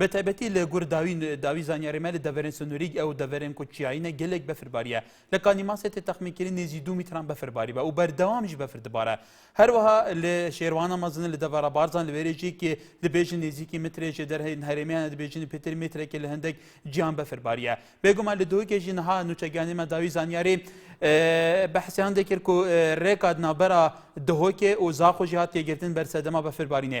بە تایبەتی لە گور داوی داوی زانیاری مە لە دەڤەرێن سنووریگ ئەو دەڤەرێن کو چیایینە گەلێک بەفر باریە لە کانی ماسێ تێ تەخمین کری نێزی دوو میتران بەفر باری بە و بەردەوامیش بەفر دبارە هەروەها لە شێروانە مەزنە لە دەڤەرە بارزان لە وێرێژی کێ دبێژن نێزیکی مترێژێ دەر هەین هەرێمیانە دبێژن پێتر مترێکێ لە هەندێک جیان بەفر باریە بێگومان لە دۆکێژی نەها نوچەگیانی مە داوی زانیاری بەحسیان دەکرد کو رێکات نابەرا دهۆکێ و زاخۆژی هات تێگرتن بەرسەدەما بەفر بارینێ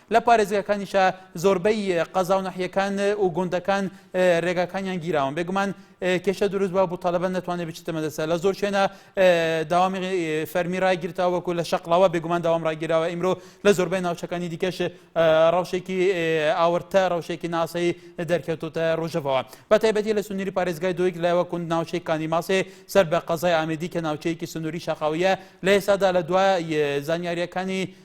لە پارێزگاکانیشە زۆربەی قەزا و ناحیەکان و گوندەکان رێگاکانیان گیراون بێگومان کێشە دروست بە بوو تەلەبە نەتوانێت بچتە مەدەسە لە زۆر شوێنە داوامی فەرمی ڕایگیرتەوە وەکو لە شەقڵاوە بێگومان داوام ڕاگیراوە ئیمرۆ لە زۆربەی ناوچەکانی دیکەش ڕەوشێکی ئاورتە ڕەوشێکی ناسەی دەرکەوتوتە ڕژەوە بە تایبەتی لە سنووری پارێزگای دویک لە وەکوند ناوچەی کانی ماسێ سەر بە قەزای ئامدی کە ناوچەیەکی سنووری شەقاویە لە ئێسادا لە دوای زانیاریەکانی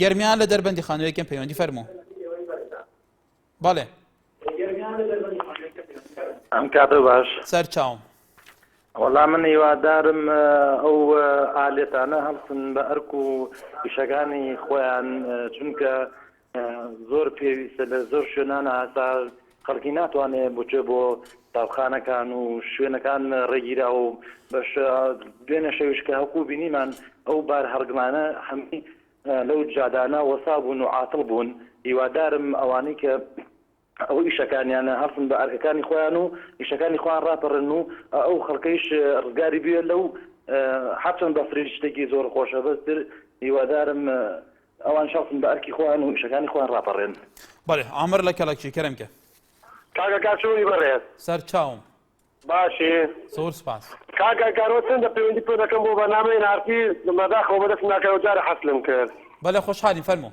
گەرمیان لە دەربەندی خانوو یەکەم پەیوەندی فەرموو بەڵێ ئەم کاتە باش سەر چاوم وەڵام من هیوادارم ئەو ئالێتانە هەڵسن بە ئەرک و پیشەکانی خۆیان چونکە زۆر پێویستە لە زۆر شوێنان هەتا خەڵکی ناتوانێت بچێ بۆ تاوخانەکان و شوێنەکان ڕێگیرا و بەش دوێنە شەویش کە هەکو بینیمان ئەو بار هەڕگمانە هەمی لەو جادانە وەسا بوون و عاتڵ بوون هیوادارم ئەوانەی کە ئەوە ئیشەکانیانە هەڵسن بە ئەرکەکانی خۆیان و ئیشەکانی خۆیان ڕاپەڕن و ئەو خەڵکەیش ڕزگاری بوێ لەو هەرچەند بەفرین شتێکی زۆر خۆشە بەستر هیوادارم ئەوان شەڵسن بە ئەرکی خۆیان و ئیشەکانی خۆیان ڕاپەڕێن بەێ ئامر لە کەڵەکی کەرم کە کاگە کاچوی بەڕێز سەر چاوم باشی زۆر سپاس کاگە گەرۆ چەندە پەیوەندی پێ دەکەم بۆ بەنامەی نارتی مەداخەوە بەدەست ناکەەوە جارە حەسلم کرد بەە خۆشحالی فەرمو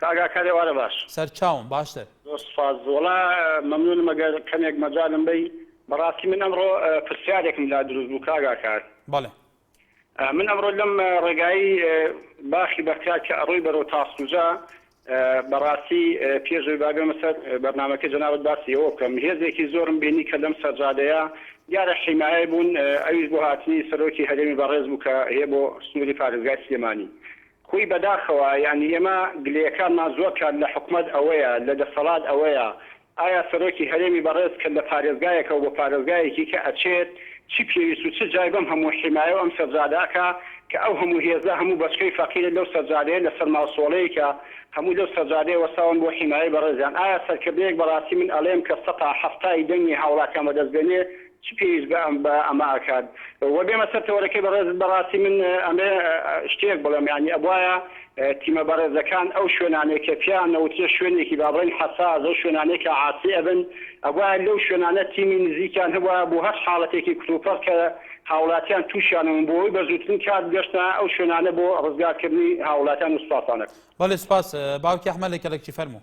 کاک ئاکار ئێوارە باش. سەرچاوم باشتر. زۆر سوپاس وەڵا مەمنونم ئەگەر کەمێک مەجالم بەی بەڕاستی من ئەمڕۆ پرسیارێکم لا دروست بوو کاک ئاکار. بەڵێ. من ئەمڕۆ لەم ڕێگایی باخی بەختیار کە ئەڕۆی بەرەو تاسڵوجە بەڕاستی پێش ئەوی با بێمە سەر بەرنامەکەی جەنابت باسی ئەوە بکەم هێزێکی زۆرم بینی کە لەم سەرجادەیە دیارە حیمایەی بوون ئەویش بۆ هاتنی سەرۆکی هەرێمی بەڕێز بوو کە هەیە بۆ سنوری پارێزگای سلێمانی خۆی بەداخەوە یانی ئێمە گلەیەکانمان زۆر کات لە حکومەت ئەوەیە لە دەسەڵات ئەوەیە ئایا سەرۆکی هەرێمی بەڕێز کە لە پارێزگایەکەوە بۆ پارێزگایەکی کە ئەچێت چی پێویست و چ جای بەم هەموو حیمایەو ئەم سەرجادە ئەکا کە ئەو هەموو هێزە هەموو بەچکەی فەقیرە لەو سەرجادەیە لە سەر ماڵسۆڵەیەکە هەموو لەو سەرجادەیە وەستاون بۆ حیمایەی بەڕێزیان ئایا سەرکردەیەک بەڕاستی من ئەڵێم کە سەتا حەفتای دەنگی هاوڵاتیان بەدەست بێنێ چ پێویست بە ئەم بە ئەمە ئەکات؟ وە بێمە سەر تەوەرەکەی بەڕێزت بەڕاستی من ئەمەێ شتێک بڵێم یانی ئەبوایە تیمە بەڕێزەکان ئەو شوێنانەی کە پێیان ئەوترێ شوێنێکی با بڵێین حەساس ئەو شوێنانەی کە عاسی ئەبن ئەبوایە لەو شوێنانە تیمی نزیکیان هەبوایە بۆ هەر حاڵەتێکی کتوپڕ کە هاوڵاتیان توشیانە بوون بۆ ئەوەی بە زووترین کات بگەشتنە ئەو شوێنانە بۆ ڕزگار کردنی هاوڵاتیان و سوپاسانەت. بەڵێ سوپاس باوکی ئەحمەد لە کەلەکچی فەرموو.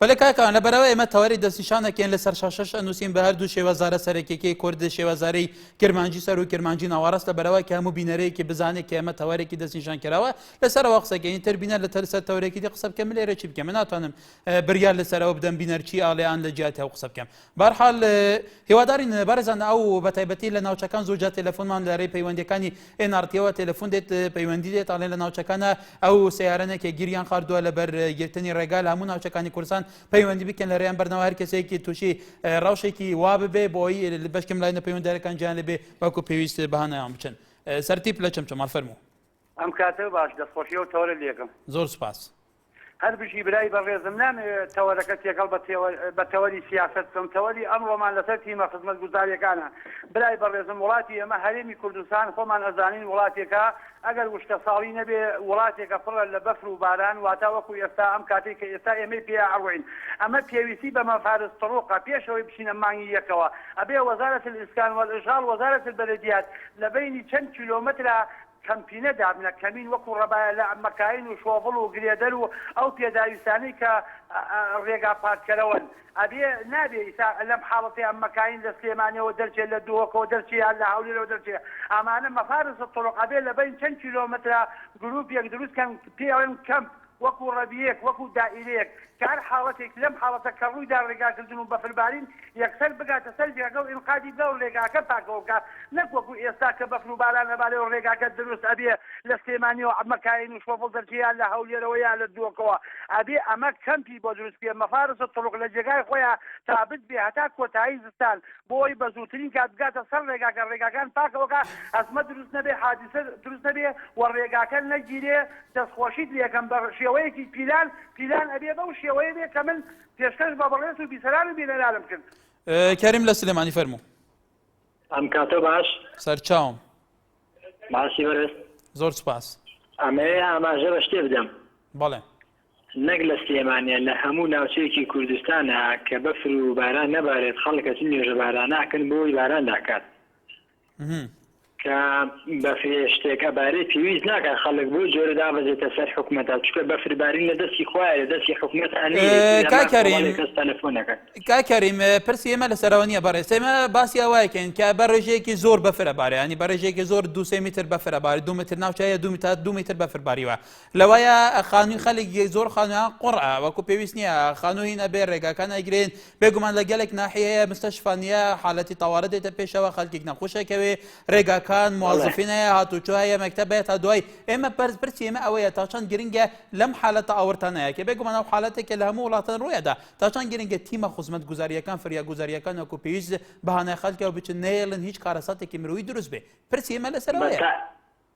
بەلێ کاکەوان لەبەرئەوە ئێمە تەوەری دەستنیشان دەکەین لەسەر شاشەش ئەنووسین بە هەردوو شێوەزارە سەرەکیەکەی کورد شێوەزارەی کرمانجی سەر و کرمانجی ناوەڕاست لەبەرەوە کە هەموو بینەرەیەکی بزانێت کە ئێمە تەوەرێکی دەستنیشان کراوە لەسەرەوە قسەکەین تر بینەر لە تەرسەر تەورێکی دی قسە بکەم لێرە چی بکەم من ناتوانم بریار لەسەرەوە بدەم بینەر چی ئاڵێان لە جیاتی ئەو قسە بکەم بەهەرحال هیوادارین بەرزان ئەو بەتایبەتی لە ناوچەکان زۆر جار تەلەفۆنمان لەرەی پەیوەندەکانی ئێنارتیەوە تەلەفۆن دێت پەیوەندی دێت ئەڵێن لە ناوچەکانە ئەو سیارەنێکە گیریان خاردووە لەبەر گرتنی ڕێگا لە هەموو ناوچەکانی کوردستان پەیوەندی بکەن لەرەیان بەرنەوە هەر کەسێکی تووشی ڕەوشێکی وا ببێ بۆی بەشکم لای نەپەیوەندەرەکان جیان لەبێ وەکو پێویست بەهانایان بچن سەرتیپ لە چەمچەماڵ فەرموو ئەم کاتە باش دەستخۆشی ئەو تەوەرە لێکم. زۆر سوپاس. هەر بژی برای بەڕێزم نامەوێت تەوەرەکە تێکەڵ بە تەوەری سیاسەت بکەم تەوەری ئەمڕۆمان لەسەر تیمە خزمەتگوزاریەکانە برای بەڕێزم وڵاتی ئێمە هەرێمی کوردستان خۆمان ئەزانین وڵاتێکە ئەگەر وشکە ساڵی نەبێ وڵاتێکە پڕە لە بەفر و باران واتا وەکو ئێستا ئەم کاتێک کە ئێستا ئێمەی پێ ئەڕوین ئەمە پێویستی بە مەفارز تڕوقە پێشەوەی بچینە مانگی یەکەوە ئەبێ وەزارەت الاسکان والاشغال وەزارەت البلدیات لە بەینی چەند کیلۆمەترە کەمپینە دابنە کەمین وەکو ڕەبایە لە مەکاین و شۆڤڵ و گرێدەر و ئەو پێداویستانەی کە ڕێگا پاککەرەوەن ئەبێ نابێ ئیسا لەم حاڵەتەی ئەم مەکاین لە سلێمانیەوە دەرچێ لە دهۆکەوە دەرچێ یان لە هەولێرەوە دەرچێ ئەمانە مەفارس الطرق ئەبێ لە بەین چەن کیلۆمەترا گروپیەک دروست کەن پێڵێن کەمپ وەکو ڕەبیەک، وەکو دائیرەیەک، کە هەر حاڵەتێک لەم حاڵەتە کە ڕوویدا ڕێگاکردن و بەفربارین یەکسەر بگاتە سەر ڤێغە و ئینقادی بکا و ڕێگاکە پاکەوە بکا، نەک وەکو ئێستا کە بەفر و باران ئەبارێ و ڕێگاکە دروست ئەبێ لە سلێمانیەوە عەمە کایەین و شۆفڵ دەرچێ یا لە هەولێرەوە یا لە دووەکەوە ئەبێ ئەمە کەمپی بۆ دروست بکرێ مفارس الطرق لە جێگای خۆیا تابت بێ هەتا کۆتایی زستان بۆ ئەوەی بە زووترین کات بگاتە سەر ڕێگاکە ڕێگاکان پاکەوە کا ئەزمە دروست نەبێ حادیسە دروست نەبێ و ڕێگاکە نەگیرێ دەست خۆشیت لێکەم بە شێوەیەکی پیلان پیلان ئەبێ بەو شێوەیە بێ کە من پێشکەش بە بەڕێز و بیسەران و بینەرانم کرد. کەریم لە سلێمانی فەرموو. ئەم کاتە باش. سەرچاوم. ماسی بەرز. زۆر سوپاس. ئەمەوێ ئاماژە بە شتێ بدەم. بەڵێ. نەک لە سلێمانیە لە هەموو ناوچەیەکی کوردستانا کە بەفر و باران نەبارێت خەڵک ئەچن نوێژە باراناکەن بۆ ئەوەی باران داکات. کە بەفرێشتێک ئەبارێ پێویست ناکە خەڵک بۆ جۆرە دابەزێتە سەر حکومەتە چکە بەفربارین لە دەستی خۆە لە دەستی حکومەت کاکەریم پرسی ئێمە لە سەرەوە نیە بەڕێز ئێمە باسی ئەوایکەین کە بە ڕێژەیەکی زۆر بەفرە بارەیانی بە ڕێژێکی زۆر دو سێ میتر بەفرە باری دو متر ناوچەیە دو تا دو میتر بەفرباریوە لەوایە خانووی خەلک زۆر خانوان قڕە وەکو پێویست نییە خانووی نەبێ ڕێگاکان ئەگرێن بێگومان لە گەلێک ناحیەیە مستەشفا نیە، حالەتی تەوارە دێتە پێشەوە، خەلکیک نەخوش ئەکەوێ، رێگاکان، بەڵێ. موازفین هەیە، هاتوچۆ هەیە، مەکتەب هەیە تا دوایی، ئێمە بەرز پرسی ئێمە ئەوەیە تا چەند گرنگە لەم حالەتە ئاوڕتانەیە کە بێگومان ئەو حالەتە کە لە هەموو وڵاتان روی ئەدا تا چەند گرنگە تیمە خوزمەتگوزاریەکان فریاگوزاریەکان وەکو پیویست بە هانای خەلکەوە بچن نەیەلن هیچ کارەساتێکی مرۆیی دروست بێ پرسی ئێمە لەسەر بە ئەوەیە تا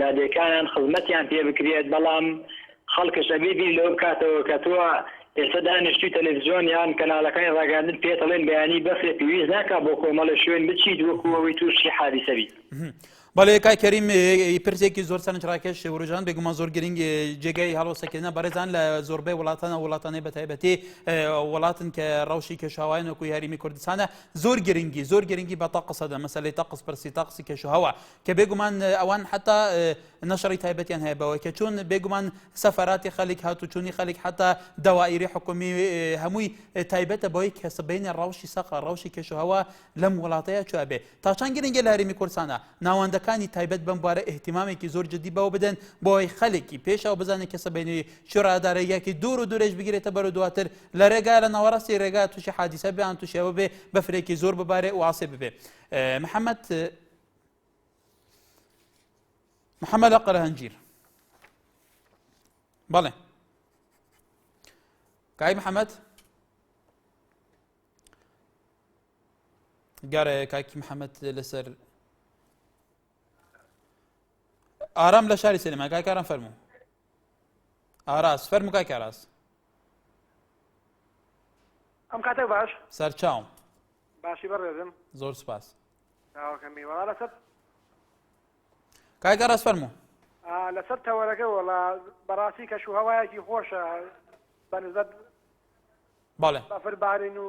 لادێکانان خزمەتیان پێ بکرێت، بەڵام خەڵکش ئەبێ بیر لەوە بکاتەوە کە تۆ ئێستا دانیشتووی تەلەفزیۆن یان کەناڵەکانی ڕاگەیاندن پێت ئەڵێن بەیانی بەفرە پێویست ناکا بۆ کۆمەڵێ شوێن بچیت وەکو ئەوەی تووشی حادیسە بیت. بەڵێ کاک کەریم پرسێکی زۆر سەرنج ڕاکێش وروژان بێگومان زۆر گرنگ جێگای هەڵۆسەکردە بەڕێزان لە زۆربەی وڵاتانە وڵاتانی بە تایبەتی وڵاتن کە ڕەوشی کێشاوایان وەکوی هەریمی کوردستانە زۆر گرنگی زۆر گرنگی بە تاقسەدە مەسلەی تاقس پرسی تاقسی کێشەوە کە بێگومان ئەوان حتا نەشڕی تایبەتیان هەیە بەوەی کە چون بێگومان سەفراتی خەلک هاتوچوونی خەلک حتا داوائری حکومی هەمووی تایبەتە بەوەی کە سبینە ڕەوشی سەقە ڕەوشی کێشوهوە لەم وڵاتەیە چوابێ تا چند گرنگە لە هەرێمی کوردستانە ناوەندەکانی تایبەت بم بوارە احتیمامێکی زۆر جدی بەوە بدەن بۆی خەلکی پێشەوە بزانێت کە سبینی شورادارەیەکی دوور و دوورێش بگرێتە بەرە دواتر لە ڕێگا لە ناوەڕاستی ڕێگا تووشی حادیسە بیان تووشەوە بێ بەفرێکی زۆر ببارێ واسێ ببێ محەممەد محەمەدە قەرهەنجیر بەڵێ کای محەمەد گارە کاکی محەممەد لەسەر ئارام لە شاری سلێمان کاکاران فەرمو ئاراس فەرمو کاک ئاراس ئەم کاتە باش سەرچاوم باشی بەڕێزم زۆر سپاس چاوەکەمی وەڵا لەسەر کاک ئەڕاز فەرموو لەسەر تەوەرەکە وەڵا بەڕاستی کەش و هەوایەکی خۆشە بەنزبەت بەڵێ بەفر بارین و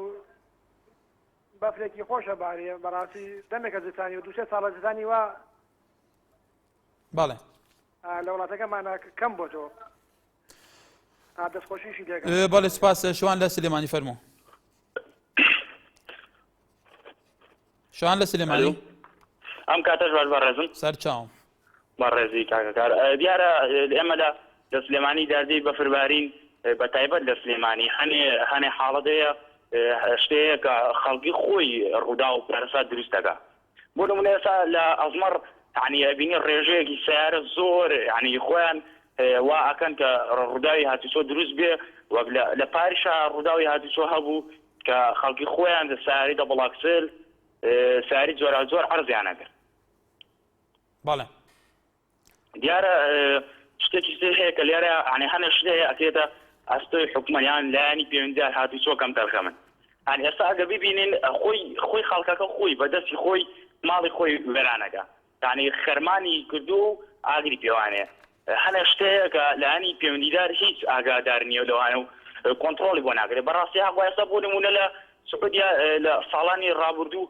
بەفرێکی خۆشە بارێ بەڕاستی دەمێکە زستانی و دووسێ ساڵە زستانی وا بەڵێ لە وڵاتەکەمانە کەم بۆتەوە بەڵێ سپاس شوان لە سلێمانی فەرمو شان لە سلێمانی ئەم کاتەش باش بەڕێزم سەرچاو بەڕێزی کاکەکار دیارە ئێمە لە لە سلێمانی دادی بەفربارین بە تایبەت لە سلێمانی هەنێ هەنێ حاڵەتەیە شتەیە کە خەڵکی خۆی ڕوودا و پارسا دروستەکە بۆ نمونە ئێستا لە ئەزمەڕ یانی ئەبینی ڕێژەیەکی سیارە زۆر یانی خۆیان وا ئەکەن کە ڕووداوی هاتوچۆ دروست بێ وەک لە پاریشا ڕووداوی هاتوچۆ هەبوو کە خەڵکی خۆیان دە ساری دە بڵاکسل ساری جۆرا زۆر عرضیانەکرد بەڵێ دیارە شتێکی تر هەیە کە لێرە ئەنێ هەنە شت هەیە ئەکرێتە ئەستۆی حکومەیان لایانی پەیوەندیدار هاتوو چۆ کەم تەرخەمن هەن ئێستا ئەگە ببینین خۆی خۆی خەڵکەکە خۆی بەدەستی خۆی ماڵی خۆی وێرانەکە تانی خەرمانی کردو و ئاگری پێوانێ هەنە شتەیە کە لایانی پەیوەندیدار هیچ ئاگادار نیە لەوانە و کۆنتترۆلی بۆ ناگرێت بەڕاستی هەقوایستا بۆ نمونە لە سعودیا لە ساڵانی ڕابردوو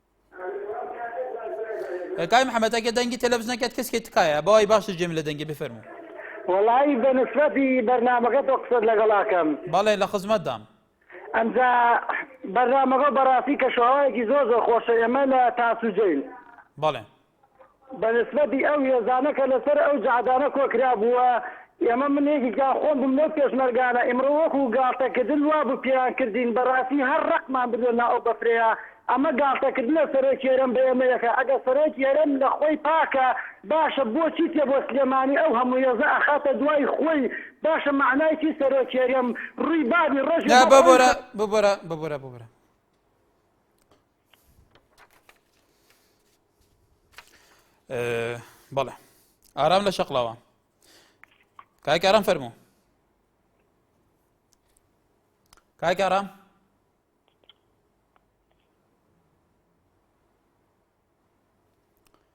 کاک محمد ئەگە دەنگی تەلەبزنەکەت کەس کرد تکایە بەوای باش جێم لە دەنگی بفەرمو وەڵی بە نسبەتی بەرنمەکە تۆ قسەت لەگەڵاکەم بەڵێ لە خزمەت دام ئەمجا بەرنمەکە بەڕاستی کە شوواەکی زۆر زۆر خۆشە ئێمە لە تاسوجین بەڵێ بە نسبەتی ئەو هێزانە کە لەسەر ئەو جەعدانە کۆکرابووە، ئێمە من یەکێکیان خۆم بووم لەو پێشمەرگانە، ئیمڕۆ وەکوو گاڵتەکردن وا بوو پێیان کردین، بەڕاستی هەر ڕەقمان بردە ناو ئەو بەفرەیە، ئەمە گاڵتەکردنە سەرۆکی هەرێم بە ئێمەیەکە، ئەگەر سەرۆکی هەرێم لە خۆی پاکە باشە بۆچی تێ بۆ سلێمانی ئەو هەموو هێزە ئەخاتە دوای خۆی، باشە مەعنای چی سەرۆکی هەرێم ڕووی بابی ڕەشی بۆ خۆی. بەڵێ ئارام لە شەقڵەوە کاک ئارام فەرموو کاک ئارام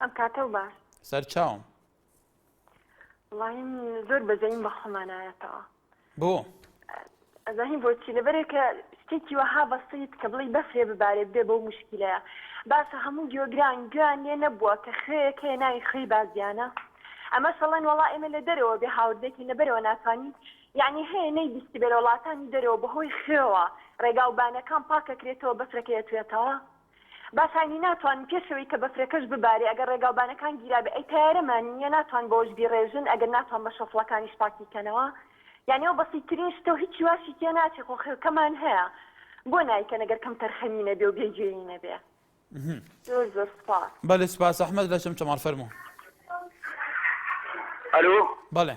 ئەم کاتەو باش سەر چاوم وڵایم زۆر بەزەیم بە خۆمانایەتەوە بۆ ئەزانین بۆچی لەبەرێک کە شتێکی وەها بەسیت کە بڵی بەفرێ ببارێت بێ بەو مشکلەیە باشە هەموو گیۆگران گویان لێ نەبووە کە خوێیەک هەیە ناوی خوێی بازیانە ئەمە شەڵێن وڵا ئێمە لە دەرەوە بێ هاوردێکین لەبەرەوە ناتوانین یعنی هەیە نەی بیستی بێ لە وڵاتانی دەرەوە بەهۆی خوێوە ڕێگاوبانەکان پاکەکرێتەوە بەفرەکەیەتوێتەوە با ساینی ناتوان پێش ئەوەی کە بەفرەکەش ببارێ ئەگەر ڕێگاوبانەکان گیرابێ ئەی تەیارەمان نیە ناتوان بەوەش بیڕێژن ئەگەر ناتوان بە شەفڵەکانیش پاکی کەنەوە یانی ئەو بەسیترین شتە و هیچی واشی تێ ناچێ خۆ خێڵکەمان هەیە بۆ نایکەن ئەگەر کەم تەرخەمی نەبێ و بێ جێیی نەبێ زۆر زۆر سوپاس. بەلی سوپاس ئەحمەد لە چەمچەماڵ فەرموو. ئەلۆ. بەڵێ.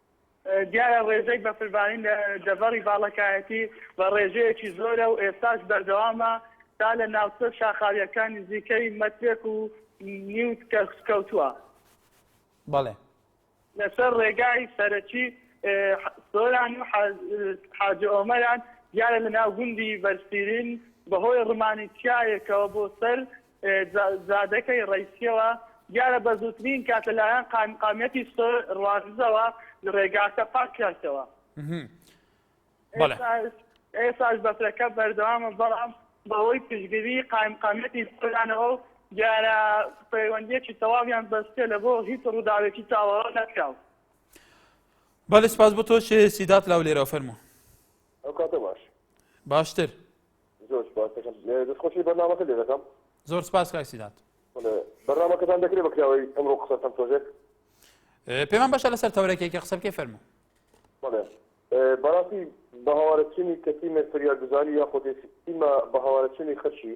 دیارە ڕێژەی بەفربارین لە دەڤەری باڵەکایەتی بە ڕێژەیەکی زۆرە و ئێستاش بەردەوامە تا لە ناوچە شاخاوییەکان نزیکەی مەترێک و نیو کەوتووە. بەڵێ. لەسەر ڕێگای سەرەکی سۆران و حاجی ئۆمەران دیارە لەناو گوندی بەرسیرین بەهۆی ڕمانی چیایەکەوە بۆ سەر جادەکەی ڕەیسیەوە دیارە بەزووترین کات لەلایەن قایمقامیەتی سۆر ڕوانزەوە ڕێگاکە پاک کەرتەوە. ئێستاش بەفرەکە بەردەوامە بەڵام بەهۆی پشتگری قایمقامیەتی سۆرانەوەو دیارە پەیوەندیەکی تەواویان بەستیە لەبۆ هیچ ڕووداوێکی چاوەڕۆ نەکراو. بەلی سپاس بۆ تۆش سیدات لاو لێرەوە فەرموو. ئەوکاتە باش. باشتر. زۆر سوپاست دەکەم دەستخۆشی بەرنامەکە لێ دەکەم. زۆر سوپاس کاک سیرات. بەرنامەکەتان دەکرێ بە کراوەی ئەمڕۆ قسە بکەم تۆزێک. پێمان باشە لەسەر تەورەکێکی قسە بکەی فەرموو. بەڵێ بەڕاستی بە هەوارەچنی کەتیمێ فریاگوزاری یاخۆدێ تیمە بە هەوارەچنی خەرشی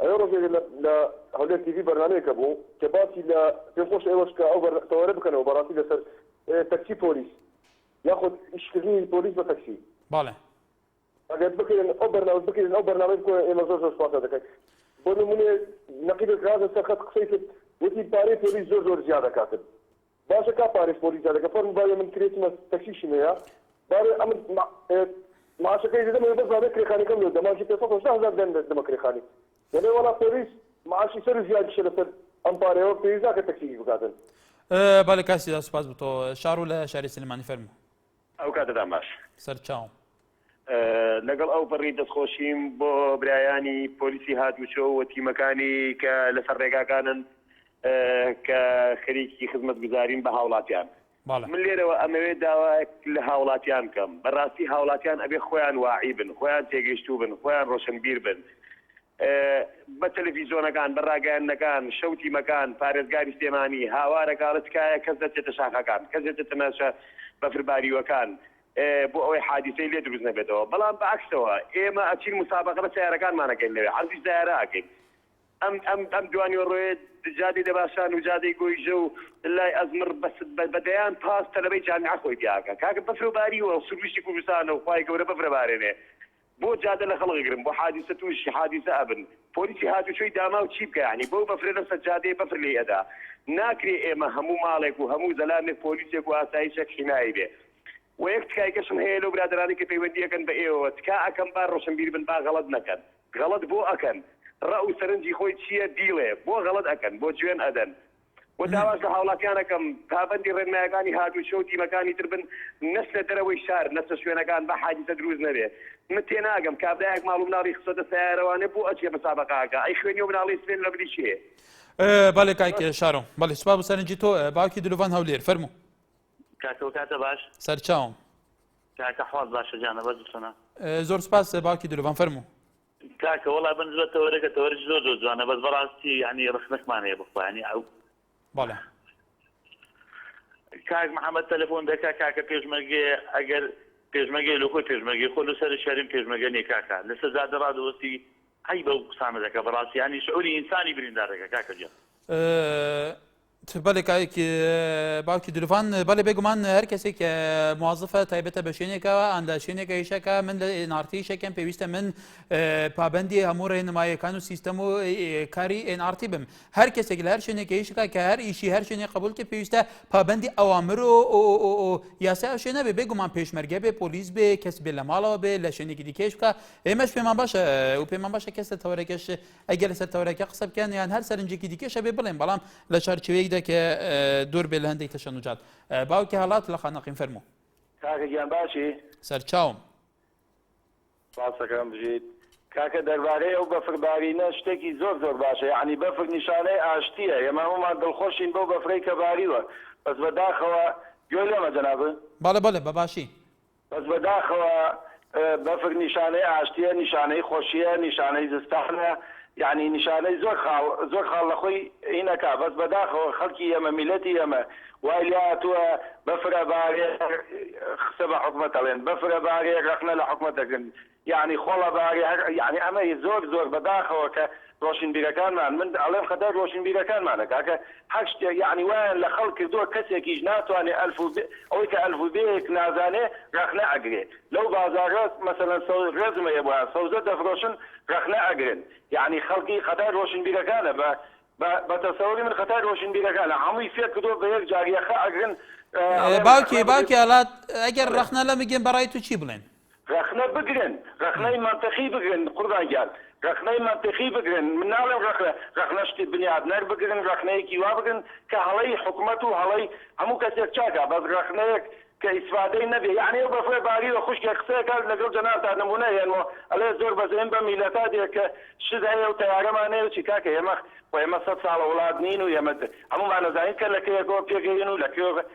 ئەوێ ڕۆژێک لە لە هەولێر تیڤی بەرنامەیەک هەبوو کە باسی لە پێم خۆشە ئێوەش کە ئەو بەر تەوەرە بکەنەوە بەڕاستی لەسەر تەکسی پۆلیس یاخود ئیشکردنی پۆلیس بە تەکسی. بەڵێ. ئەگەر بکرێن ئەو بەرنامە بکرێن ئەو بەرنامەی بکەن ئێمە زۆر زۆر سوپاستان دەکەین بۆ نمونە نەقیبێک هاتە سەر خەت قسەی کرد وتی پارەی پۆلیس زۆر زۆر زیادە کاتب باشە کا پارەی پۆلی جا لەگە فەرمو باوی من کرێ چمە تەکسیشم هەیە باێ ئەمن مە ێت معاشەکەی دەدەم ئەوێ بەس باێ کرێخانەکەم لۆ دە مانکی پێ سەد هەشتا هەزار دەن دەمە کرێخانی دەلێ وەڵا پۆلیس معاشی سەرو زیاد کشە لەسەر ئەم پارەیەوە پێویست ناکە تەکسیش بکاتن. بەلێ کاک سیدا سوپاس بۆ تۆ. شارۆ لە شاری سلێمانی فەرموو. ئەو کاتەتان باش. سەرچاوم. لەگەڵ ئەوپەڕی دەستخۆشیم بۆ برایانی پۆلیسی هاتوچۆ و تیمەکانی کە لەسەر ڕێگاکانن کە خەریکی خزمەتگوزارین بە هاوڵاتیان. من لێرەوە ئەمەوێ داوایەک لە هاوڵاتیان بکەم، بەڕاستی هاوڵاتیان ئەبێ خۆیان واعی بن، خۆیان تێگەیشتوو بن، خۆیان ڕۆشنبیر بن، بە تەلەفیزۆنەکان، بە راگەیاندنەکان، شەو تیمەکان، پارێزگاری سلێمانی هاوار ئەکات تکایە کەس نەچێتە شاخەکان، کەس نەچێتە ناوچە بەفرباریوەکان بۆ ئەوەی حادیسەی لێ دروست نەبێتەوە، بەڵام بە عەکسەوە ئێمە ئەچین موسابەقە بە سەیارەکانمان ئەکەین لەوێ عەرزی سەیارە ئەکەین. ئەم ئەم ئەم دوانیوەڕۆیە جادەی دەباشان و جادەی گۆیژە و لای ئەزمڕ بە بە بە دەیان پاس تەلەبەی جامیعە خۆی تیا ئەکا کاکە بەفرە باریوە سروشتی کوردستانە و خوای گەورە بەفر ئەبارێنێ بۆ جادە لە خەڵک گرم بۆ حادیسە توشی حادیسە ئەبن پۆلیسی هاتوچۆی داماو چی بکە یانی بەو بەفرە لەسەر جادەیە بەفر لێی ئەدا ناکرێ ئێمە هەموو ماڵێک و هەموو زەلامێک پۆلیسێک و ئاسایشێک حیمای بێ وە یەک تکای کەشم هەیە لەو برادەرانەی کە پەیوەندی ئەکەن بە ئێوەوە تکا ئەکەم با ڕۆشنبیر بن با غەڵەت نەکەن غەڵەت بۆ ئەکەن ڕەئو سەرنجی خۆی چیە بیڵێ بۆ غەڵەت ئەکەن بۆ جوێن ئەدەن و داواش لە هاوڵاتیان ئەکەم پابەندی ڕێنمایەکانی هاتووچۆ و تیمەکانی تر بن نەچنە دەرەوەی شار نەچنە شوێنەکان با حادیسە دروست نەبێ من تێناگەم کابرایەک ماڵ و مناڵی خستۆتە سەیارەوانێ بۆ ئەچێ مسابەقەکە ئەی خوێنی ئەو مناڵەی سپێن لە بری چێ؟ بەڵێ کاک شارۆ بەڵێ سوپاس بۆ سەرنجی تۆ باوکی دلوڤان هەولێر فەرموو کاکەوە کاتە باش سەرچاوم کاکە حواز باشە جانە بەس بچۆنە زۆر سوپاس باوکی دلوڤان فەرموو کاکە وەڵا بنجلە تەوەرەکە تەوەرەکی زۆر زۆر جوانە بەس بەڕاستی یعنی ڕخنەکمان هەیە بخوا یعنی ئەو بەڵێ کاک محەممەد تەلەفۆن دەکا کاکە پێشمەرگێ ئەگەر پێشمەگەی لە خۆی پێشمەگەی خۆ لە سەر شاریم پێشمەگە نیە کاکە لە سەر جادە ڕادەوەستی ئەی بەو قسانە دەکە بەڕاستیانی شعوری ئینسانی بریندار دەکە کاکە جیان. بەێ کاک باوکی دروڤان بەێ بێگومان هەر کەسێک کە موازفە تایبەتە بە شوێنێکەوە ئەندا شوێنێکە یشەکە من لە ئێنارتی شەکەم پێویستە من پابندی هەموو ڕێنمایەکان و سیستەم و کاری ئێنارتی بم هەر کەسێک لە هەر شوێنێکە یشەکە کە هەر ئیشی هەر شوێنێ قبول کە پێویستە پابندی ئەوامر و یاسا ئەو شوێنە بێ بێگومان پێشمەرگە بێ پۆلیس بێ کەس بێ لە ماڵەوە بێ لە شوێنێکی دیکەش بکە ئێمەش پێمان باشە و پێمان باشە کەس لە تەوەرەکەش ئەگەر لەسەر تەورەکە قسە بکەن یان هەر سەرنجێکی دیکەش هەبێ بڵێن بەڵام لە چارچێوەیەکدا کە دوور بێ لە هەندێک تەشەنوجات باوکی هەڵات لە خانەقین فەرموو کاکە گیان باشی سەرچاوم سپاسەکەم بژیت کاکە دەربارەی ئەو بەفربارینە شتێکی زۆر زۆر باشە یعنی بەفر نیشانەی ئاشتیە ئێمە هەمومان دڵخۆشین بەو بەفرەی کە باریوە بەس بەداخەوە گوێ لێمە جەنابت بەڵێ بەڵێ بەباشی بەس بەداخەوە بەفر نیشانەی ئاشتیە نیشانەی خۆشیە نیشانەی زستانە یەعنی نیشانەی زۆر خاڵ زۆر خاڵ لەخۆی هینەکا بەس بەداخەوە خەڵکی ئێمە میلەتی ئێمە وای لێ هاتوە بەفر ئەبارێ خسە بە حکومەت ئەڵێن بەفر ئەبارێ رەخنە لە حکومەت ئەگرن یەعنی خۆڵە بارێ هەر یەعنی ئەمە ی زۆر زۆر بە داخەوە کە ڕۆشنبیرەکانمان من ئەڵێم خەتای ڕۆشنبیرەکانمانە کاکە هەر شتێ یەعنی وایان لە خەڵک کردوە کەسێکیش ناتوانێ ئەلف و بێ ئەوەی کە ئەلف و بێیەک نازانێ ڕەخنە ئەگرێ لەو بازاڕە مەسەلەن سەو ڕێزمە یە بۆیان سەوزە دەفرۆشن ڕەخنە ئەگرن یەعنی خەڵکی خەتای ڕۆشنبیرەکانە بە بە بە تەسەوری من خەتای ڕۆشنبیرەکانە هەمووی فێر کردوە بە یەک جار یەخە ئەگرن ئەڵێن ڕەخنە باوکی بگرن. باوکی ئالات ئەگەر ڕەخنە لەمگرن بەڕای تو چی بڵێن ڕەخنە بگرن ڕەخنەی مەنتقی بگرن قوربان گیان ڕەخنەی مەنتقی بگرن من ناڵێم ڕەخنە ڕەخنە شتی بنیادنەر بگرن ڕەخنەیەکی وا بگرن کە هەڵەی حکومەت و هەڵەی هەموو کەسێک چاکە بەس ڕەخنەیەک کە ئیسفادەی نەبێ یەعنی ئەو بەفرە باریوە خوشکێک قسەیەکات لەگەڵ جەنابتا نمونە ئێنمۆ ئەلێ زۆر بەزەیم بەم میلەتا دێ کە شت هەیە و تەیارەمان نەیە چی کاکە ئێمە خۆ ئێمە سەد ساڵە وڵات نین و ئێمە هەموومان ئەزانین کە لە کەیەکەوە پێگەیین و لە کوێوە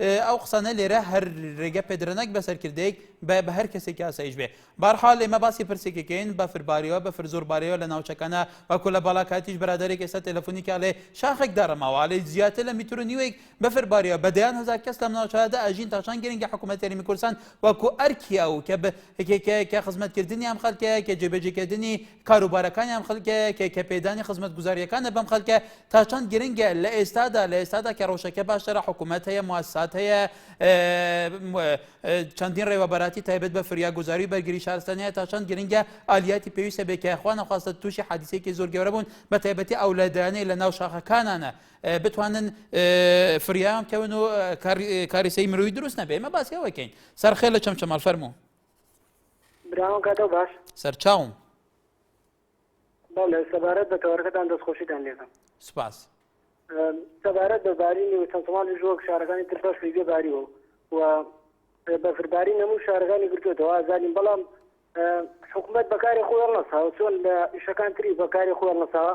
ئەو قسانە لێرە هەر ڕێگە پێدرە نەک بە سەرکردەیەک بە بە هەر کەسێکی ئاسایش بێ بارحال لێمە باسی پرسێکەکەین بە فربارەوە بە فرزۆر بارەوە لە ناوچەکانە وەکو لە بالاکاتیش برادێک ئێستا تەلەفۆنی کا لێ شاخێک دارەماوە لێ زیاتر لە میتر و نیوێک بە فربارەوە بە دەیان هزار کەس لەم ناوچەدا ئەژین تاشان گرنگی حکوومەت یاریمی کوردستان وەکو ئەرکی ئەو کە کە خزمەتکردنی ئەم خەلکەیە کە جێبێجێکردنی کاروبارەکانی ئەم خەلکەیە کە کە پێدانی خزمەت گوزاریەکانە بەم خەلکە تا چەند گرنگە لە ئێستادا لە ئێستادا کە ڕەوشەکە باشترە حکوومەت هەیە موسات هەیە چەندین ڕێوەبەراتی تایبەت بە فریاگوزاری بەرگری شارستانەیە تا چەند گرنگە ئالیاتی پێویستە بێکایخوا نەخواستە تووشی حادیسێکی زۆر گەورە بوون بە تایبەتی ئەو لادانەی لە ناو شاخەکانانە بتوانن فریام کەون و کاریسەی مرۆی دروست نەبێ ئمە باسیەوەکەین سەرخێ لە چەمچەمەڵ فەرموو سەرچاوم بەڵێ سەبارەت بە تەوەرەکەتان دەستخۆشیتان لێکەم. سوپاس. سەبارەت بە بارینی و چەند ساڵانی ژۆک شارەکانی تر بەفری لێ باریوە و بەفربارین هەموو شارەکانی گرتوێتەوە ئازارین بەڵام حکوومەت بەکاری خۆیان نەساوە چۆن لە ئیشەکان تری بەکاری خۆیان نەساوە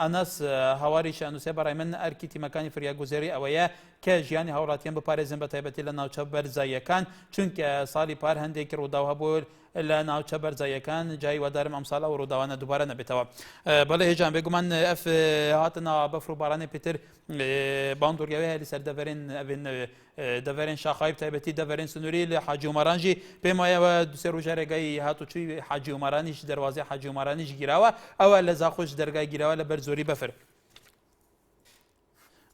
ئەنەس هەواریش ئەنووسێ بەڕای من ئەرکی تیمەکانی فریاگوزێری ئەوەیە کە ژیانی هاوڵاتیان بپارێزن بە تایبەتی لە ناوچە بەرزاییەکان چونکە ساڵی پار هەندێکی ڕووداو هەبوو لە ناوچە بەرزاییەکان جای وادارم ئەمساڵ ئەو ڕووداوانە دووبارە نەبێتەوە بەڵێ هێژان بێگومان ئەف هاتنەوە بەفر و بارانێ پێتر بەڵام دوورگەوێ هەلی سەردەڤەرێن ئەبێن دەڤەرێن شاخاوی بتایبەتی دەڤەرێن سنووری لە حاجی ومەرانژی پێم وایەوە دوسێ ڕژە ڕێگای هاتوچوی حاجی ومەرانیش دەواازی حاجی ومەرانیش گیراوە ئەوە لە زاخۆش دەرگای گیراوە لە بەر زۆری بەفر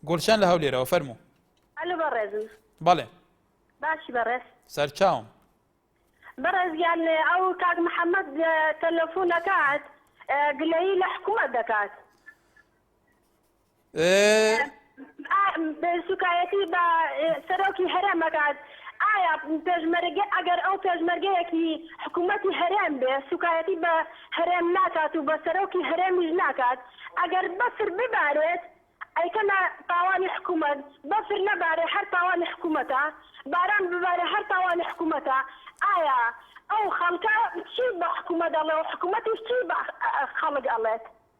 گۆلشان لە هەولێرەوە فەرمو ئەلو بەڕێزم بەڵێ باشی بەڕێز سەرچاوم بەڕێزیان ئەو کاک محەممەد تەلەفۆنەکات گلەیی لە حکوومەت دەکات سوکایەتی بە سەرۆکی هەرێم ئەکات ئایا پێشمەرگە ئەگەر ئەو پێشمەرگەیەکی حکوومەتی هەرێم بێ سوکایەتی بە هەرێم ناکات و بە سەرۆکی هەرێمیش ناکات ئەگەر بەفر ببارێت ئەیکەنە تاوانی حکوومەت بەفر نەبارێ هەر تاوانی حکوومەتە باران ببارێ هەر تاوانی حکوومەتە ئایا ئەو خەڵکە چی بە حکوومەت ئەڵێ و حکوومەتیش چی بە خەڵک ئەڵێت؟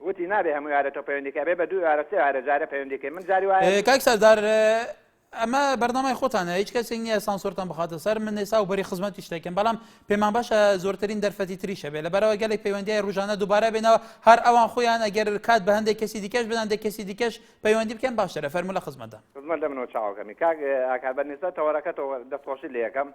وتی نابێ هەموو یارە تۆ پەیوەندیکە بێ بە دوو یارە سێ یارە جارە پەیوەندیکە من جاری وایە کاک سەردار ئەمە بەردەمای خۆتانە هیچ کەسێک نییە سانسۆرتان بخاتە سەر من ئێسا و بەری خزمەتی شتێکم بەڵام پێمان باشە زۆرترین دەرفەتی تریشە بێ لە بەرەوە گەلێک پەیوەندی ڕژانە دووبارە بێنەوە هەر ئەوان خۆیان ئەگەر کات بە هەندێک کەسی دیکەش بدەن دە کەسی دیکەش پەیوەندی بکەن باشە لە فەرمو لە خزمەتدا خزمەت دەمنەوە چاوەکەمی کاک ئاکار بەنیسبە تەوەرەکە تۆ دەستخۆشی لە یەکەم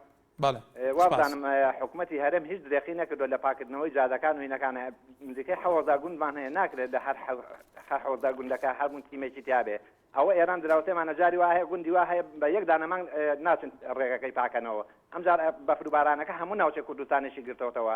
وابزانم حکومەتی هەرێم هیچ درێخی نەکردوە لە پاکردنەوەی جادەکان و هینەکانە نزیکەی حەوەزا گوندمان هەیە ناکرێت لە هەر حەوەزا گوندەکە هەرمون تیمێکی تیاابێ ئەوە ئێران دراوسێمانە جاری وایە گوندی وا هەیە بە یەک دانەمان ناچن ڕێگەکەی پاکەنەوە ئەمجار بەفروبارانەکە هەموو ناوچە کوردستانێکی گرتەوەتەوە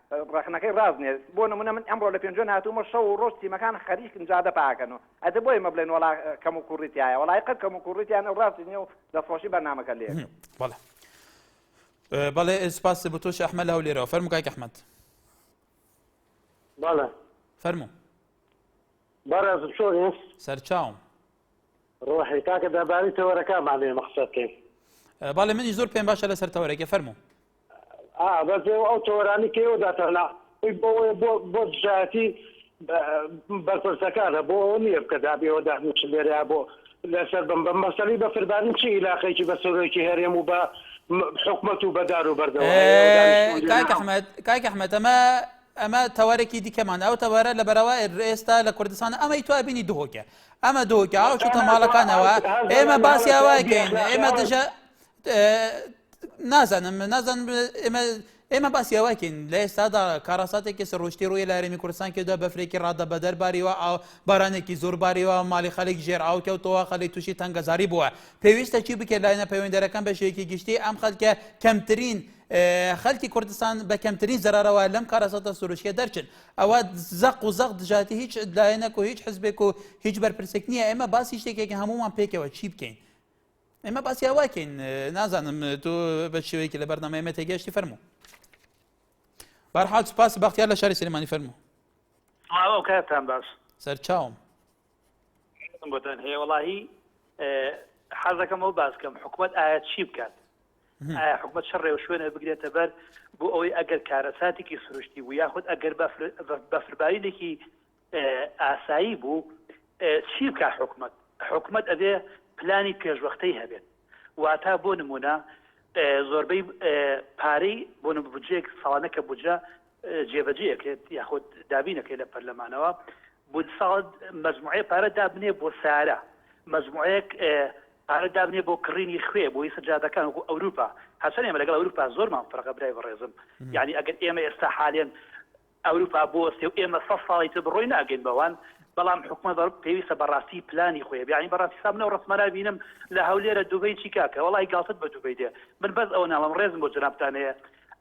ڕەخنەکەی ڕاست نیە بۆ نمونە من ئەمڕۆ لە پێنجوێن هاتوومە شەو و ڕۆژ تیمەکان خەریکن جادە پاکەن و ئەدە بۆیە مە بڵێن وەڵا کەم و کوڕی تایە وەڵای قەت کەم و کوڕی تیان ئەو ڕاستی نیە و دەستخۆشی بەرنامەکە لێ بەڵێ بەڵێ سپاس بۆ تۆش ئەحمە لە هەولێرەوە فەرمو کاک ئەحمەد بەڵێ فەرمو بەڕێز چۆنی سەرچاوم ڕۆحی کاکە دەباری تەوەرەکانمانێ مەخسەکەین بەڵێ منی زۆر پێم باشە لەسەر تەوەرەکە فەرمو ئا بەس ئێوە ئەو تەوەرانی کە ئێوە داتانا ئەی بۆ ئەوەیە بۆ بۆ دژایەتی بەرپرسەکانە بۆ ئەوە نییە بکە دابێ ئێوە دانیشن لێرەیا بۆ لەسەر بم بە مەسەلی بە فربارن چی عیلاقەیەکی بە سەرۆکی هەرێم و بە م- حکومەت و بەدار و بەردەوە هەیە ئێوە دانیشتوون ئێ، کاک لێرە ئەحمەد کاک ئەحمەد ئەمە ئەمە تەوەرەکی دیکەمانە ئەو تەوەرە لە بەرەوە ئێ- ئێستا لە کوردستان ئەمەی تو ئەبینی دهۆکە ئەمە دهۆکە ئاو شتە ماڵەکانەوە ئێمە باسیاوایکەین ئێمە دژە نازانم نازان ئێمە ئێمە باسی ئەوەکەین لە ئێستادا کاراساتێکی سڕۆشتی ڕووی لە رێمی کوردستان کردە بەفرێکی ڕادە بەدەر باریوە ئاو بارانێکی زۆر باریوە مالی خەلک ژێر ئاوکەوتەوە خەلی تووشی تەنگەزاری بووە پێویستە چی بکە لایەنە پەیوەندەرەکان بە شێکی گشتی ئەم خەلکە کەمترین خەلکی کوردستان بە کەمترین زەرەوە لەم کارەساتە سروشکە دەرچن ئەوە زەق و زەق دژاتی هیچ لایەنەک و هیچ حزبێک و هیچ بەرپرسێک نییە ئێمە باسی شتێکێک هەمومان پێکەوە چی بکەین ئێمە باسی هەواکەین نازانم تۆ بە شێوەیەکی لە بەرنامە ئێمە تێگەشتی فەرموو بارحال سپاس بەختیار لە شاری سلێمانی فەرموو ماوە کاتان باش سەرچاوم گوتن هەیە وڵی حەزەکەم ئەو باسکەم حکوومەت ئایا چی بکات حکومت شەڕ و شوێنە بگرێتە بەر بۆ ئەوەی ئەگەر کارەساتێکی سروشتی بوو یاخود ئەگەر بەفربارینێکی ئاسایی بوو چی بکا حکومەت حکومەت ئەبێ پلانی پێشوەختەی هەبێت واتا بۆ نمونە زۆربەی پارەی بۆ بجێک ساڵانەکە بجە جێبەجێکرێت یاخود دابینەکەی لە پەرلەمانەوە بود ساڵ مجموعەیە پارە دابنێ بۆ سارە مجموعەیەک پارە دابنێ بۆ کڕینی خوێ بۆی سەجادەکان وەکو ئەوروپا هەرچەند ئێمە لەگەڵ ئەوروپا زۆرمان فەرقە برای بەڕێزم یعنی ئەگەر ئێمە ئێستا حالێن ئەوروپا بوەستێ و ئێمە سەد ساڵی تر بڕۆین ناگەین بەوان، بەڵام حکومەت پێویستە بەڕاستی پلانی خۆی هەبێ، یانی بەڕاستی سا من ئەو ڕەسمە نابینم لە هەولێرە دوبەی چی کاکە وەڵاهی گاڵتەت بە دوبەی دێ، من بەس ئەوە ناڵێم ڕێزم بۆ جەنابتان هەیە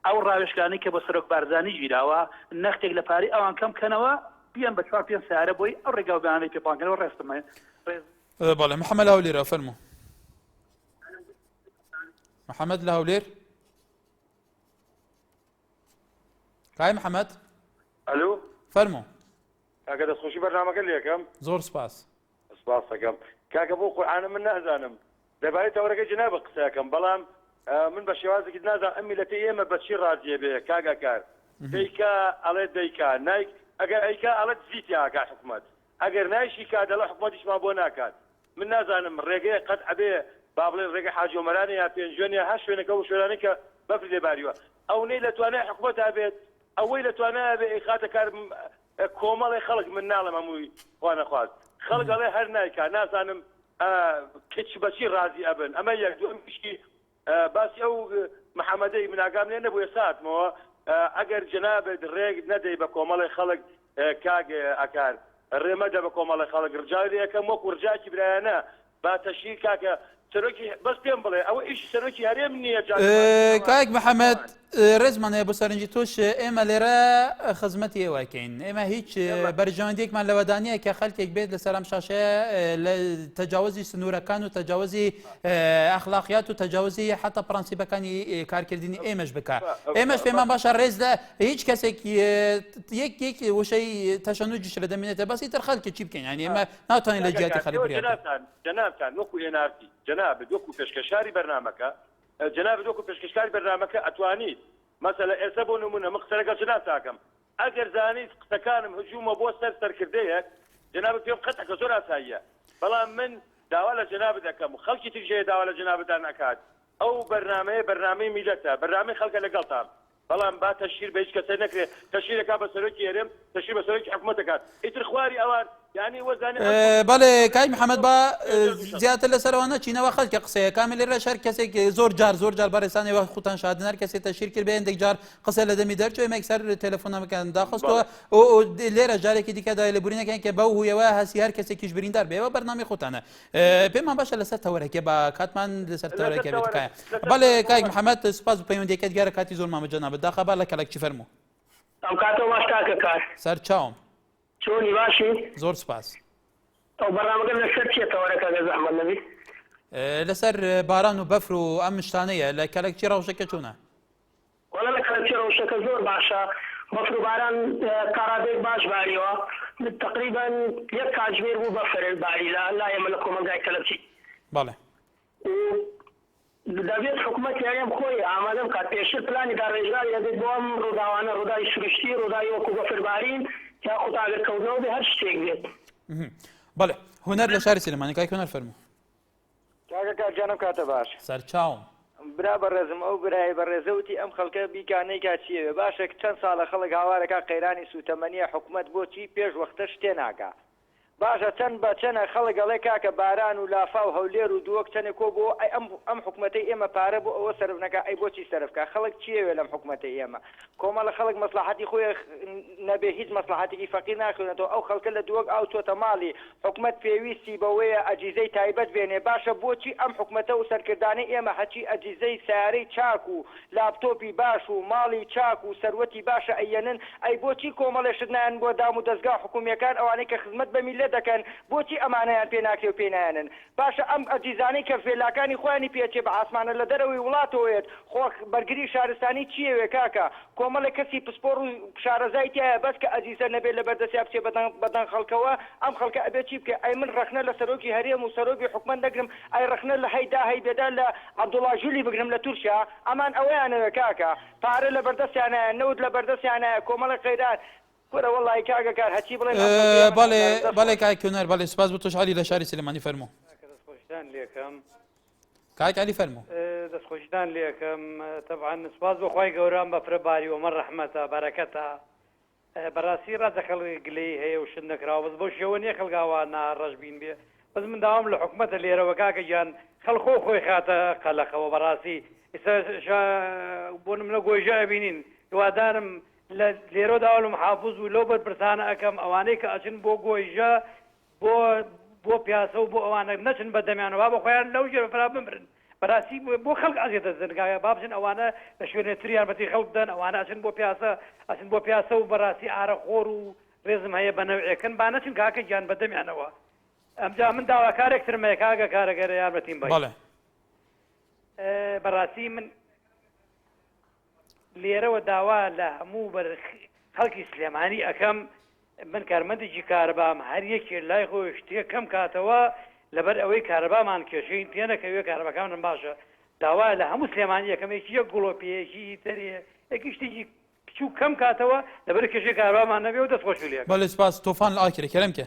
ئەو ڕاوێژکانەی کە بۆ سەرۆک بارزانی گیراوە نەختێک لە پارەی ئەوان کەم کەنەوە بیەن بە چوار پێنج سەیارە بۆی ئەو ڕێگاو بەیانەی پێ پان کەنەوە ڕێزتم هەیە ڕێز. بەڵێ محەمەد هەولێرە فەرموو. محەمەد لە هەولێر. کای محەمەد ئەلو فەرمو کاکە دەستخۆشی بەرنمەکە لەکەم زۆر سپاس سپاسەکەم کاکە بۆ قورآانە من نازانم دەبارەی تەوەرەکە جنابە قسەکەم بەڵام من بە شێوازێکی نازان ئەم میلەتی ئێمە بەچی ڕازیە بێ کاگاکار دیکە ئەڵێ دیکە نایک ئەگەر ئەیکا ئەڵەت زیتیاکە حکومت ئەگەر نایشی کا دەڵێ حکومەتیشمان بۆ ناکات من نازانم ڕێگەیە قەت ئەبێ با بڵێن ڕێگەی حاجی ئۆمەرانە یا پێنجوێن یا هەر شوێنێک ئەو شوێنانەی کە بەفری لێ باریوە ئەونەی لە توانای حکومەتا بێت ئەوەی لە توانایە بێ ئەیخاتە کار کۆمەڵی خەڵک من ناڵێم هەمووی خوا نەخواست خەڵک ئەڵێ هەر نایکا نازانم کچ بەچی ڕازی ئەبن ئەمە یەک دووەم پشکی باسی ئەو محمدەی من ئاگام لێ نەبوو ئێستا هاتمەوە ئەگەر جەنابت ڕێک نەدەی بە کۆمەڵی خەڵک کاک ئەکار ڕێ مەدە بە کۆمەڵی خەڵک ڕجاوی لێ ئەکەم وەکو ڕجاکی برایانە با تەشهیر کاکە سەرۆکی بەس پێم بڵێ ئەوە ئیشی سەرۆکی هەرێم نییە جا کاک محمد ڕێزمان هەیە بۆ سەرنجی تۆش ئێمە لێرە خزمەتی ئێوەکەین ئێمە هیچ بەرژەوەندێکمان لەوەدانە کە خەلکێک بێت لە سەرام شاشەیە لە تەجاوزی سنوورەکان و تەجاوزی ئەخلاقیات و تەجاوزی حتا پرەنسیبەکانی کارکردنی ئێمەش بکە ئێمەش پێمان باشە ڕێز لە هیچ کەسێک یەک یەک وشەی تەشەنوجیش لە دەمێنێتە بەسی تر خەلکی چی بکەین یعنی ئێمە ناتوانین لە جیاتی خەلک جنابتان وەکو ئێنارتی جناب وەکو پێشکەشاری بەرنمەکە جەنابت وەکو پێشکەشکاری بەرنامەکە ئەتوانیت مەسەلەن ئێستا بۆ نمونە من قسە لەگەڵ جەنابت ئەکەم ئەگەر زانیت قسەکانم هجومە بۆ سەر سەرکردەیەک جەنابت پێم قەت ئەکە زۆر ئاساییە بەڵام من داوا لە جەنابت ئەکەم و خەڵکی تریش هەیە داوا لە جەنابتان ئەکات ئەو بەرنامەیە بەرنامەی میلەتە بەرنامەی خەڵکە لەگەڵتام بەڵام با تەشهیر بە هیچ کەسێ نەکرێ تەشهیر ئەکات بە سەرۆکی هەرێم تەشهیر بە سەرۆکی حکومەت ئەکات ئیتر خواری ئەوان یانی وەزانێ ئەم کورد بەڵێ کاک محمد با زیاتر لە سەرەوە نەچینەوە خەلکە قسەیە کامە لێرە شەر کەسێک زۆر جار زۆر جار بەڕێسانێ وە خوتان شادن هەر کەسێ تەشیر کرد بێندێک جار قسە لە دەمی دەرچوێ مەکسەر تەلەفۆنەکان داخستووە لێرە جارێکی دیکە دای لە بورینەکەن کە بەو هویەوە هەسی هەر کەسێکیش بریندار بێەوە بەرنامی خوتانە پێمان باشە لەسەر تەوەرەکە بە کاتمان لەسەر تەوەرەکە بێت تکایە بەڵێ کاک محەممەد سپاس و پەیوەندەکەت گەرە کاتی زۆر مامە جەنابەت داخە با لە کەلەکچی فەرموو ئەو کاتەوە باش کاکە کار سەر چاوم چۆنی باشی زۆر سپاس ئەو بەڕامەکە لەسەر چیە تەوەرەکە گە زەحمەت نەبی لەسەر باران و بەفر و ئەم شتانەیە لە کەلەکچی ڕەوشەکە چۆنە وەڵا لە کاتی ڕەوشەکە زۆر باشە بەفر و باران تاڕادەیەک باش باریەوە تەقریبەن یەک کاتژمێر بوو بەفر باری لە لای ئێمە لە کۆمەڵگای کەلەچی. بەڵێ. و دەبێت حکومەت یاریم خۆی ئامادە بکات پێشتر پلانی داڕێژراوی هەبێت بۆ ئەم ڕووداوانە ڕووداوی سروشتی ڕووداوی وەکو بەفر بارین یاخود ئاگر کەوتنەوە بێ هەر شتێک بێت. بەڵێ هونەر لە شاری سلێمانی کاک هونەر فەرموو. کاکە کاک جان ئەم کاتە باش. سەرچاوم. برا بەڕێزم ئەو برایەی بەڕێزە وتی ئەم خەڵکە بیکا نەیکا چی ئەوێ باشە چەند ساڵە خەڵک هاوارەکا قەیرانی سوتەمەنیە حکومەت بۆچی پێش وەختە شتێ ناکا باشە چەند بە چەنە خەڵک ئەڵێ کاکە باران و لافاو هەولێر و دووەک چەنێ کۆ بۆوە ئەی ئەم ئەم حکومەتەی ئێمە پارە بۆ ئەوە سەرف نەکا ئەی بۆچی سەرف کا خەڵک چی ئەوێ لەم حکومەتەی ئێمە کۆمەڵە خەڵک مەسڵەحەتی خۆی نەبێ هیچ مەسڵەحەتێکی فەقیر ناخوێنێتەوە ئەو خەڵکە لە دووەک ئاو چۆتە ماڵی حکومەت پێویستی بەوەیە ئەجیزەی تایبەت بێنێ باشە بۆچی ئەم حکومەتە و سەرکردانەی ئێمە هەچی ئەجیزەی سەیارەی چاک و لاپتۆپی باش و ماڵی چاک و سەروەتی باشە ئەیەنن ئەی بۆچی کۆمەڵێ شت نایەن بۆ دام و دەزگا حکومیەکان ئەوانەی کە خزمەت بە میللەت دەکەن بۆچی ئەمانەیان پێ ناکرێ و پێی نایەنن باشە ئەم ئەجیزانەی کە ڤێلاکانی خۆیانی پێچێ بە عاسمانە لە دەرەوەی وڵاتەوە یەت خۆ بەرگری شارستانی چی یەوێ کاکە کۆمەڵێ کەسی پسپۆڕ و شارەزای تیایە بەس کە ئەجیزە نەبێ لە بەردەسیا بچێ بە دەنگ بە دەنگ خەڵکەوە ئەم خەڵکە ئەبێ چی بکەێ ئەی من ڕەخنە لە سەرۆکی هەرێم و سەرۆکی حکومەت نەگرم ئەی ڕەخنە لە هەی دا هەی بێدا لە عەبدوڵا ژولی بگرم لە تورکیا ئەمان ئەوەیانەوێ کاکە پارە لە بەردەسیانایە نەوت لە بەردەسیانایە کۆمەڵێ قەیران کورە وەڵایی کاکە کار هەچی بڵێم ئەم بەرگەیەمە بەڵێ نازانم دەست بەڵێ خۆش. کاک کونەر بەڵێ سوپاس بۆ تۆش عەلی لە شاری سلێمانی فەرموو کاکە دەستخۆشیتان لێکەم کاک عەلی فەرموو اه، دەستخۆشیتان لێکەم اه، تەبعەن سوپاس بۆ خوای گەورە ئەم بەفرە باری ئەمە ڕەحمەتە بەرەکەتە اه، بەڕاستی ڕاستە خەڵک گلەیی هەیە و شت نەکراوە بەس بەو شێوە نییە خەڵک ئاوا نا ڕەشبین بێ بەس من داوام لە حکومەتە لێرەوە کاکە گیان خەڵک خۆ خۆی خاتە قەلەقەوە بەڕاستی ئیستا شا بۆ نمونە گۆیژە ئەبینین هیوادارم لە لێرۆدا ئەلم حافز و لەو بەرپرسانە ئەکەم ئەوانەی کە ئەچن بۆ گۆیژە بۆ بۆ پیاسە و بۆ ئەوانە نەچن بە دەمیانە با بە خۆیان لەو ژێر بەفرا بمرن بەراستی بۆ خەڵک ئەزیێت دەزن گاوێ با بچن ئەوانە لە شوێنێ تر یارمەتی خەڵک بدەن ئەوانە ئەچن بۆ پیاسە ئەچن بۆ پیاسە و بەراستی ئارە خۆر و ڕێزم هەیە بە نەوعێکن با نەچن کاکە گیان بە دەمیانەوە ئەمجا من داواکارێک ترم هەیە کاگە کارەگەرە یارمەتیم بەی بەڵێ بەڕاستی من لێرەوە داوا لە هەموو خەڵکی سلێمانی ئەکەم، من کارمەندێکی کارەبام، هەر یەکێ لای خۆی شتێ کەم کاتەوە، لەبەر ئەوەی کارەبامان کێشەی پێ نەکەوێ، کارەباکانمان باشە، داوا لە هەموو سلێمانی ئەکەم یەکی یەک گڵۆپێ، یەکی تەرێ، یەکی شتێکی بچووک کەم کاتەوە، لەبەر کێشەی کارەبامان نەبێ و دەست خۆشی لێ ئەکەم. بەلی سپاس توفان لە ئاکرێ کێرم کێ.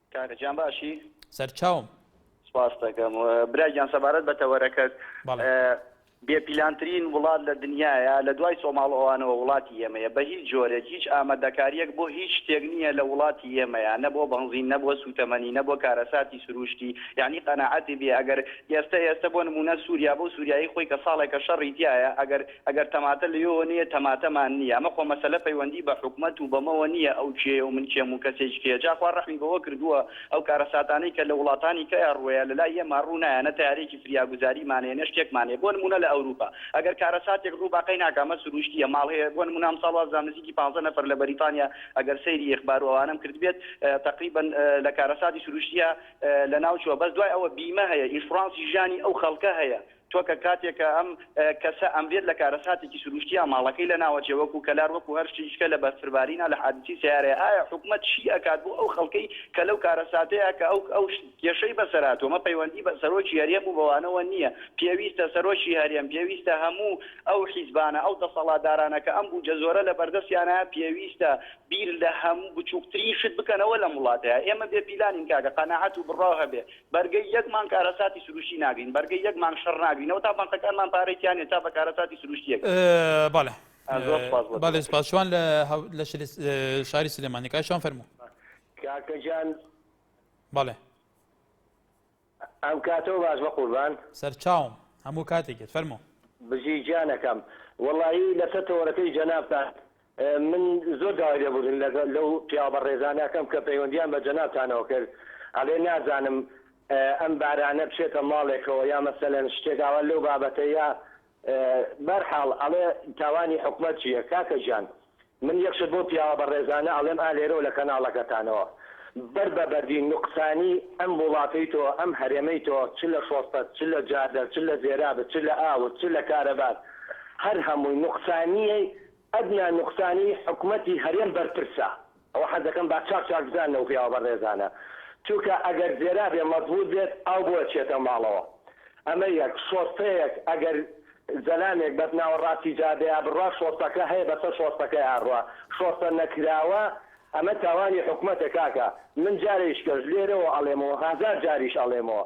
کاکە گیان باشی؟ سەرچاوم. سپاست دەکەم. برا گیان سەبارەت بە تەوەرەکەت بێ پیلانترین وڵات لە دنیایە لە دوای سۆماڵ ئەوانەوە وڵاتی ئێمەیە بە هیچ جۆرێک هیچ ئامادەکاریەک بۆ هیچ شتێک نییە لە وڵاتی ئێمەیە نە بۆ بەنزین نە بۆ سوتەمەنی نە بۆ کارەساتی سروشتی یانی قەناعەتی بێ ئەگەر ئێستە ئێستە بۆ نمونە سوریا بۆ سوریایی خۆی کە ساڵێکە شەڕی تیایە ئەگەر ئەگەر تەماتە لەوێوە نییە تەماتەمان نییە ئەمە خۆ مەسەلە پەیوەندی بە حکومەت و بەمەوە نییە ئەو کێیە و من کێم و کەسێکی کێیە جا خوا ڕەحمی بەوە کردووە ئەو کارەساتانەی کە لە وڵاتانی کە ڕووەیە لە لای ئێمە ڕوو نایە نە تەیارەیەکی فریاگوزاریمان هەیە نە شتێکمان هەیە بۆ نموونە لە ئەوروپا ئەگەر کارەساتێک ڕوو باقی ناکا ئەمە سرووشتییە ماڵ هەیە بۆ نموونە ئەمساڵ واز دام نزیکی پانزە نەفەر لە بەریتانیا ئەگەر سەیری ئیخبار و ئەوانەم کردبێت تەقریبەن لە کارەساتی سرووشتییا لە ناو چووە بەس دوای ئەوە بیمە هەیە ئینشورانسی ژیانی ئەو خەڵکە هەیە تۆ کە کاتێک کە ئەم کەسە ئەمرێت لە کارەساتێکی سروشتیا ماڵەکەی لە ناوەچێ وەکو کەلار وەکو هەر شتێکی کە لە بەرفربارینا لە حادیسی سەیارەیە ئایا حکومەت چی ئەکات بۆ ئەو خەڵکەی کە لەو کارەساتەیا کە ئەو ئەو کێشەی بەسەر هاتوە مە پەیوەندی بە سەرۆکی هەرێم و بەوانەوە نیە پێویستە سەرۆکی هەرێم پێویستە هەموو ئەو حیزبانە ئەو دەسەڵاتدارانە کە ئەم بوجە زۆرە لە بەردەستیانە پێویستە بیر لە هەموو بچوکترین شت بکەنەوە لەم وڵاتەیا ئێمە بێ پیلانین کاکە قەناعەت و بڕاو هەبێ بەرگەی یەک مانگ کارەساتی سروشتی ناگرین، بەرگەی یەک مانگ شەڕ ناگرینەوە تا بانقەکانمان پارەی تیا نیە تا بە کارەساتی سروشتی یەک. بەڵێ زۆر سوپاس بۆ بەڵێ سوپاس شوان لە لە شاری سلێمانی کاک شوان فەرموو. کاکە جان بەڵێ ئەم کاتەوە باش بە قوربان. سەرچاوم هەموو کاتێکێت فەرموو. بژی گیانەکەم وەڵایی لەسەر تەوەرەکەی جەنابتان من زۆر داوای لێبوردن لەو پیاوە بەڕێزانە ئەکەم کە پەیوەندیان بە جەنابتانەوە کرد ئەڵێ نازانم ئەم بارانە بچێتە ماڵێکەوە یا مەسەلەن شتێک ئاوا لەو بابەتە یا بەرحاڵ ئەڵێ تاوانی حکومەت چیە کاکە گیان من یەک شت بەو پیاوە بەڕێزانە ئەڵێم ئا لێرەوە لە کەناڵەکەتانەوە بەر بە بەردی نوقسانی ئەم وڵاتەی تۆ ئەم هەرێمەی تۆ چ لە شۆستت چ لە جادەت چ لە زێرابت چ لە ئاوت چ لە کارەبات هەر هەمووی نوقسانیی ئەدنا نوقسانی حکومەتی هەرێم بەرپرسە. ئەوە حەز دەکەم با چاک چاک بزانن ئەو پیاوە بەڕێزانە. چونکە ئەگەر زێرا بێ مەزبووت بێت ئاو بۆ ئەچێتە ماڵەوە. ئەمە یەک. شۆستەیەک ئەگەر زەلامێک بەس ناوەڕاستی جادەیا بڕوا شۆستەکە هەیە بەسەر شۆستەکەیا ئەڕوا. شۆستە نەکراوە ئەمە تاوانی حکومەتە کاکە. من جارێیشکەش لێرەوە ئەڵێمەوە هەزار جاریش ئەڵێمەوە.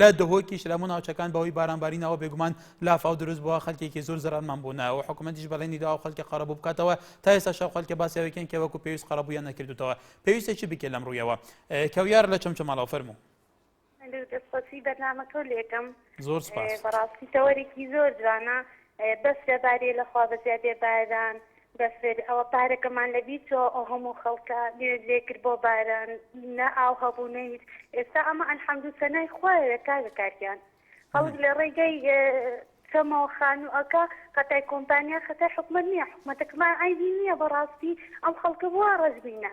لە دهۆکی شلام و ناوچەکان بەهۆی بارانبارینەوە بێگومان لافاو دروست بووە خەلکێکی زۆر زرارمان بوونەوە حکوومەتیش بەڵێنی داوە خەلکە قەرەبوو بکاتەوە تا ئێستا شەو خەلکە باسیاوێکیان کە وەکو پێویست قەرەبوویان نەکردوتەوە پێویستە چی بکە لەم ڕوویەوە کەویار لە چەمچەماڵەوە فەرموو دەستخۆشی بەرنامەکە و لێکم زۆر سپاس بەڕاستی تەوەرێکی زۆر جوانە بەس لە بارێ لە خوا بە زیادێ باران بەفر ئەوە پارەکەمان لە بیر چۆ ئەو هەموو خەڵکە نوێژ لێ کرد بۆ باران نە ئاو هەبوو نە هیچ ئێستا ئەمە الحمد و سەنای خوایە کاکە کاک گیان خەڵک لە ڕێگای چەمەوە خانوو ئەکا خەتای کۆمپانیا خەتای حکومەت نییە حکومەتەکمان عەیبی نییە بەڕاستی ئەم خەڵکە بۆ وا ڕەش بینە.